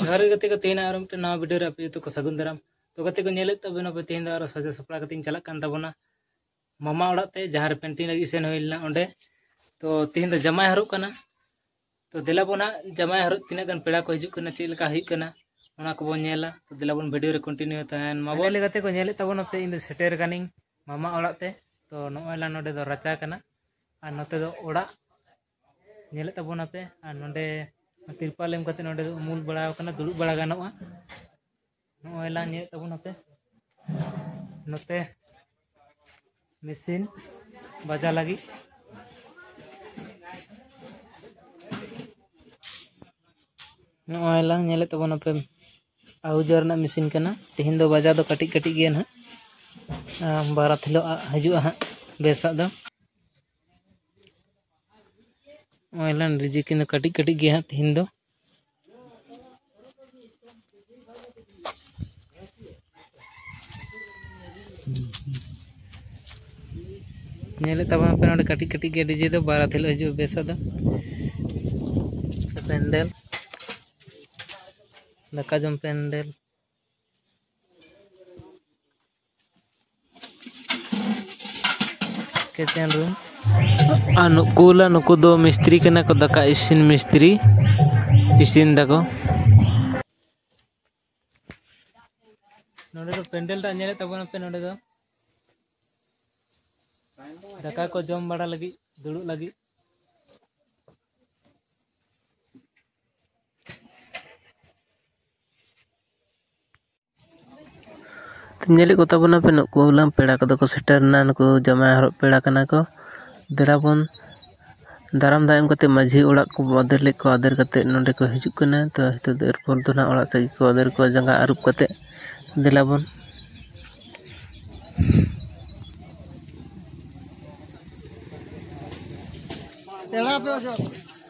ᱡᱚᱦᱟᱨ ᱜᱮ ᱜᱟᱛᱮ ᱠᱚ ᱛᱮᱦᱮᱧ ᱟᱨ ᱢᱤᱫᱴᱮᱱ ᱱᱟᱣᱟ ᱵᱷᱤᱰᱤᱭᱳ ᱨᱮ ᱟᱯᱮ ᱡᱚᱛᱚ ᱠᱚ ᱥᱟᱹᱜᱩᱱ ᱫᱟᱨᱟᱢ ᱛᱚ ᱜᱟᱛᱮ ᱠᱚ ᱧᱮᱞᱮᱫ ᱛᱟᱵᱮᱱᱟ ᱯᱮ ᱛᱮᱦᱮᱧ ᱫᱚ ᱟᱨᱚ ᱥᱟᱡᱟ ᱥᱟᱯᱲᱟᱣ ᱠᱟᱛᱮᱧ ᱪᱟᱞᱟᱜ ᱠᱟᱱ ᱛᱟᱵᱚᱱᱟ ᱢᱟᱢᱟ ᱚᱲᱟᱜ ᱛᱮ ᱡᱟᱦᱟᱸ ᱨᱮ ᱯᱮᱱᱴᱤᱝ ᱞᱟᱹᱜᱤᱫ ᱥᱮᱱ ᱦᱩᱭ ᱞᱮᱱᱟ ᱚᱸᱰᱮ ᱛᱚ ᱛᱮᱦᱮᱧ ᱫᱚ ᱡᱟᱢᱟᱭ ᱦᱟᱨᱚᱜ ᱠᱟᱱᱟ ᱛᱚ ᱫᱮᱞᱟ ᱵᱚᱱ ᱦᱟᱸᱜ ᱡᱟᱢᱟᱭ ᱦᱚᱨᱚᱜ ᱛᱤᱱᱟᱹᱜ ᱜᱟᱱ ᱯᱮᱲᱟ ᱠᱚ ᱦᱤᱡᱩᱜ ᱠᱟᱱᱟ ᱪᱮᱫ ᱞᱮᱠᱟ ᱦᱩᱭᱩᱜ ᱠᱟᱱᱟ ᱚᱱᱟ ᱠᱚᱵᱚᱱ ᱧᱮᱞᱟ ᱛᱚ ᱫᱮᱞᱟ ᱵᱚᱱ ᱵᱷᱤᱰᱤᱭᱳ ᱨᱮ ᱠᱚᱱᱴᱤᱱᱤᱭᱩ ᱛᱟᱦᱮᱱ ᱢᱟ ᱵᱚᱞᱮ ᱞᱮᱠᱟᱛᱮ ᱠᱚ ᱧᱮᱞᱮᱫ ᱛᱟᱵᱚᱱᱟ ᱯᱮ ᱤᱧ ᱫᱚ ᱥᱮᱴᱮᱨ ᱠᱟᱹᱱᱟᱹᱧ ᱢᱟᱢᱟ ᱚᱲᱟᱜ ᱛᱮ ᱛᱚ ᱱᱚᱜᱼᱚᱭ ᱞᱟᱝ ᱱᱚᱰᱮ ᱫᱚ ᱨᱟᱪᱟ ᱠᱟᱱᱟ ᱟᱨ ᱱᱚᱛᱮ ᱫᱚ ᱚᱲᱟᱜ ᱧᱮᱞᱮᱫ ᱛᱟᱵᱚᱱᱟ ᱯᱮ ᱟᱨ ᱱᱚᱰᱮ ᱛᱤᱨᱯᱟᱞ ᱮᱢ ᱠᱟᱛᱮ ᱱᱚᱰᱮ ᱫᱚ ᱩᱢᱩᱞ ᱵᱟᱲᱟ ᱠᱟᱱᱟ ᱫᱩᱲᱩᱵ ᱵᱟᱲᱟ ᱜᱟᱱᱚᱜᱼᱟ ᱱᱚᱜᱼᱚᱭ ᱞᱟᱝ ᱧᱮᱞᱮᱫ ᱛᱟᱵᱚᱱ ᱱᱚᱛᱮ ᱱᱚᱛᱮ ᱢᱮᱥᱤᱱ ᱵᱟᱡᱟ ᱞᱟᱹᱜᱤᱫ ᱱᱚᱜᱼᱚᱭ ᱞᱟᱝ ᱧᱮᱞᱮᱫ ᱛᱟᱵᱚᱱ ᱟᱯᱮ ᱟᱦᱩᱡᱟ ᱨᱮᱱᱟᱜ ᱢᱮᱥᱤᱱ ᱠᱟᱱᱟ ᱛᱮᱦᱮᱧ ᱫᱚ ᱵᱟᱡᱟ ᱫᱚ ᱠᱟᱹᱴᱤᱡ ᱠᱟᱹᱴᱤᱡ ᱜᱮᱭᱟ ᱱᱟᱦᱟᱜ ᱵᱟᱨᱟᱛ ᱦᱤᱞᱳᱜ ᱦᱤᱡᱩᱜᱼᱟ ᱦᱟᱸᱜ ᱵᱮᱥᱟᱜ ᱫᱚ ᱚᱱᱞᱟᱭᱤᱱ ᱨᱮᱡᱤᱥᱴᱨᱮᱥᱚᱱ ᱫᱚ ᱠᱟᱹᱴᱤᱡ ᱠᱟᱹᱴᱤᱡ ᱜᱮᱭᱟ ᱦᱟᱸᱜ ᱛᱤᱦᱤᱧ ᱫᱚ ᱧᱮᱞᱮᱫ ᱛᱟᱵᱚᱱᱟ ᱯᱮ ᱱᱚᱰᱮ ᱠᱟᱹᱴᱤᱡ ᱠᱟᱹᱴᱤᱡ ᱜᱮ ᱰᱤᱡᱮ ᱫᱚ ᱵᱟᱨᱟᱛ ᱦᱤᱞᱳᱜ ᱦᱤᱡᱩᱜᱼᱟ ᱵᱮᱥᱟ ᱫᱚ ᱯᱮᱱᱰᱮᱞ ᱫᱟᱠᱟ ᱡᱚᱢ ᱯᱮᱱᱰᱮᱞ ᱠᱤᱪᱮᱱ ᱨᱩᱢ ᱟᱨ ᱱᱩᱠᱩ ᱞᱟ ᱱᱩᱠᱩ ᱫᱚ ᱢᱤᱥᱛᱨᱤ ᱠᱟᱱᱟ ᱠᱚ ᱫᱟᱠᱟ ᱤᱥᱤᱱ ᱢᱤᱥᱛᱨᱤ ᱤᱥᱤᱱ ᱫᱟᱠᱚ ᱱᱚᱰᱮ ᱫᱚ ᱯᱮᱱᱰᱮᱞ ᱴᱟᱜ ᱧᱮᱞᱮᱫ ᱛᱟᱵᱚᱱᱟ ᱯᱮ ᱱᱚᱰᱮ ᱫᱚ ᱫᱟᱠᱟ ᱠᱚ ᱡᱚᱢ ᱵᱟᱲᱟ ᱞᱟᱹᱜᱤᱫ ᱫᱩᱲᱩᱵ ᱞᱟᱹᱜᱤᱫ ᱧᱮᱞᱮᱫ ᱠᱚᱛᱟ ᱵᱚᱱᱟᱯᱮ ᱱᱩᱠᱩ ᱦᱚᱞᱟᱝ ᱯᱮᱲᱟ ᱠᱚᱫᱚ ᱠᱚ ᱥᱮᱴᱮᱨᱮᱱᱟ ᱱᱩᱠᱩ ᱡᱟᱶᱟᱭ ᱦᱚᱨᱚᱜ ᱯᱮᱲᱟ ᱠᱟᱱᱟ ᱠᱚ ᱫᱮᱞᱟ ᱵᱚᱱ ᱫᱟᱨᱟᱢ ᱫᱟᱜ ᱮᱢ ᱠᱟᱛᱮ ᱢᱟᱹᱡᱷᱤ ᱚᱲᱟᱜ ᱠᱚ ᱟᱫᱮᱨ ᱞᱮᱫ ᱠᱚᱣᱟ ᱟᱫᱮᱨ ᱠᱟᱛᱮ ᱱᱚᱸᱰᱮ ᱠᱚ ᱦᱤᱡᱩᱜ ᱠᱟᱱᱟ ᱛᱚ ᱱᱤᱛᱚᱜ ᱫᱚ ᱮᱨᱯᱚᱨ ᱫᱚ ᱱᱟᱜ ᱚᱲᱟᱜ ᱥᱮᱫ ᱜᱮᱠᱚ ᱟᱫᱮᱨ ᱠᱚᱣᱟ ᱡᱟᱸᱜᱟ ᱟᱹᱨᱩᱵ ᱠᱟᱛᱮ ᱫᱮᱞᱟ ᱵᱚᱱ ᱯᱮᱲᱟ ᱫᱚ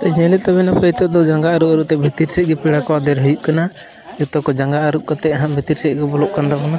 ᱛᱚ ᱧᱮᱞᱮᱫ ᱛᱟᱵᱮᱱᱟ ᱯᱮ ᱱᱤᱛᱚᱜ ᱫᱚ ᱡᱟᱸᱜᱟ ᱟᱹᱨᱩᱵ ᱟᱹᱨᱩᱵ ᱛᱮ ᱵᱷᱤᱛᱤᱨ ᱥᱮᱫ ᱜᱮ ᱯᱮᱲᱟ ᱠᱚ ᱟᱫᱮᱨ ᱦᱩᱭᱩᱜ ᱠᱟᱱᱟ ᱡᱚᱛᱚ ᱠᱚ ᱡᱟᱸᱜᱟ ᱟᱹᱨᱩᱵ ᱠᱟᱛᱮᱫ ᱦᱟᱸᱜ ᱵᱷᱤᱛᱤᱨ ᱥᱮᱫ ᱠᱚ ᱵᱚᱞᱚᱜ ᱠᱟᱱ ᱛᱟᱵᱚᱱᱟ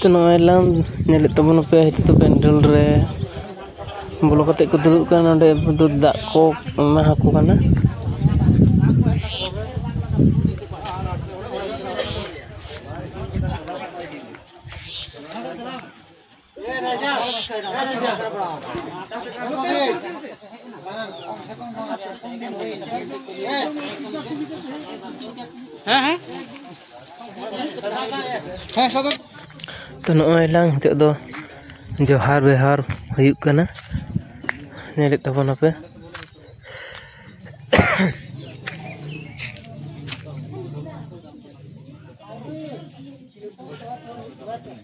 ᱛᱚ ᱱᱚᱜᱼᱚᱭ ᱞᱟᱝ ᱧᱮᱞᱮᱫ ᱛᱟᱵᱚᱱᱟ ᱯᱮ ᱱᱤᱛᱚᱜ ᱫᱚ ᱯᱮᱱᱰᱮᱞ ᱨᱮ ᱵᱚᱞᱚ ᱠᱟᱛᱮᱫ ᱠᱚ ᱫᱩᱲᱩᱵ ᱠᱟᱱᱟ ᱱᱚᱸᱰᱮ ᱫᱚ ᱫᱟᱜ ᱠᱚ ᱮᱢᱟ ᱟᱠᱚ ᱠᱟᱱᱟ ᱛᱚ ᱱᱚᱜᱼᱚᱭ ᱞᱟᱝ ᱱᱤᱛᱚᱜ ᱫᱚ ᱡᱚᱦᱟᱨ ᱵᱮᱣᱦᱟᱨ ᱦᱩᱭᱩᱜ ᱠᱟᱱᱟ ᱧᱮᱞᱮᱫ ᱛᱟᱵᱚᱱᱟᱯᱮ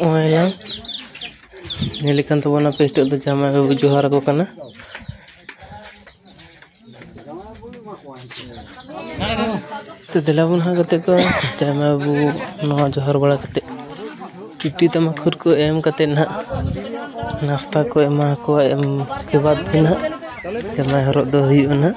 ᱦᱚᱸᱜᱼᱚᱭ ᱱᱟᱝ ᱧᱮᱞᱮᱫ ᱠᱟᱱ ᱛᱟᱵᱚᱱᱟᱯᱮ ᱱᱤᱛᱚᱜ ᱫᱚ ᱡᱟᱶᱟᱭ ᱵᱟᱹᱵᱩᱭ ᱡᱚᱦᱟᱨᱟᱠᱚ ᱠᱟᱱᱟ ᱛᱚ ᱫᱮᱞᱟ ᱵᱚᱱ ᱦᱟᱸᱜ ᱜᱟᱛᱮ ᱠᱚ ᱟᱭᱢᱟ ᱵᱚ ᱱᱚᱣᱟ ᱡᱚᱦᱟᱨ ᱵᱟᱲᱟ ᱠᱟᱛᱮ ᱠᱤᱪᱨᱤᱡ ᱛᱟᱢᱟ ᱠᱷᱩᱨ ᱠᱚ ᱮᱢ ᱠᱟᱛᱮ ᱦᱟᱸᱜ ᱱᱟᱥᱛᱟ ᱠᱚ ᱮᱢᱟ ᱠᱚᱣᱟ ᱮᱢ ᱠᱮ ᱵᱟᱫ ᱜᱮ ᱦᱟᱸᱜ ᱡᱟᱶᱟᱭ ᱦᱚᱨᱚᱜ ᱫᱚ ᱦᱩᱭᱩᱜᱼᱟ ᱦᱟᱸᱜ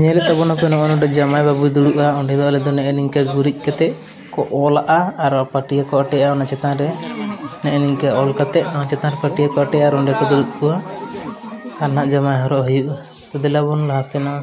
ᱧᱮᱞᱮᱫ ᱛᱟᱵᱚᱱᱟᱯᱮ ᱱᱚᱜᱼᱚ ᱱᱚᱰᱮ ᱡᱟᱶᱟᱭ ᱵᱟᱹᱵᱩᱭ ᱫᱩᱲᱩᱵᱼᱟ ᱚᱸᱰᱮ ᱫᱚ ᱟᱞᱮ ᱫᱚ ᱱᱮᱜᱼᱮ ᱱᱤᱝᱠᱟᱹ ᱜᱩᱨᱤᱡ ᱠᱟᱛᱮᱫ ᱠᱚ ᱚᱞᱟᱜᱼᱟ ᱟᱨ ᱯᱟᱹᱴᱭᱟᱹ ᱠᱚ ᱟᱴᱮᱜᱼᱟ ᱚᱱᱟ ᱪᱮᱛᱟᱱ ᱨᱮ ᱱᱮᱜᱼᱮ ᱱᱤᱝᱠᱟᱹ ᱚᱞ ᱠᱟᱛᱮᱫ ᱚᱱᱟ ᱪᱮᱛᱟᱱ ᱨᱮ ᱯᱟᱹᱴᱭᱟᱹ ᱠᱚ ᱟᱴᱮᱜᱼᱟ ᱟᱨ ᱚᱸᱰᱮ ᱠᱚ ᱫᱩᱲᱩᱵ ᱠᱚᱣᱟ ᱟᱨ ᱱᱟᱦᱟᱜ ᱡᱟᱶᱟᱭ ᱦᱚᱨᱚᱜ ᱦᱩᱭᱩᱜᱼᱟ ᱛᱚ ᱫᱮᱞᱟ ᱵᱚᱱ ᱞᱟᱦᱟ ᱥᱮᱱᱚᱜᱼᱟ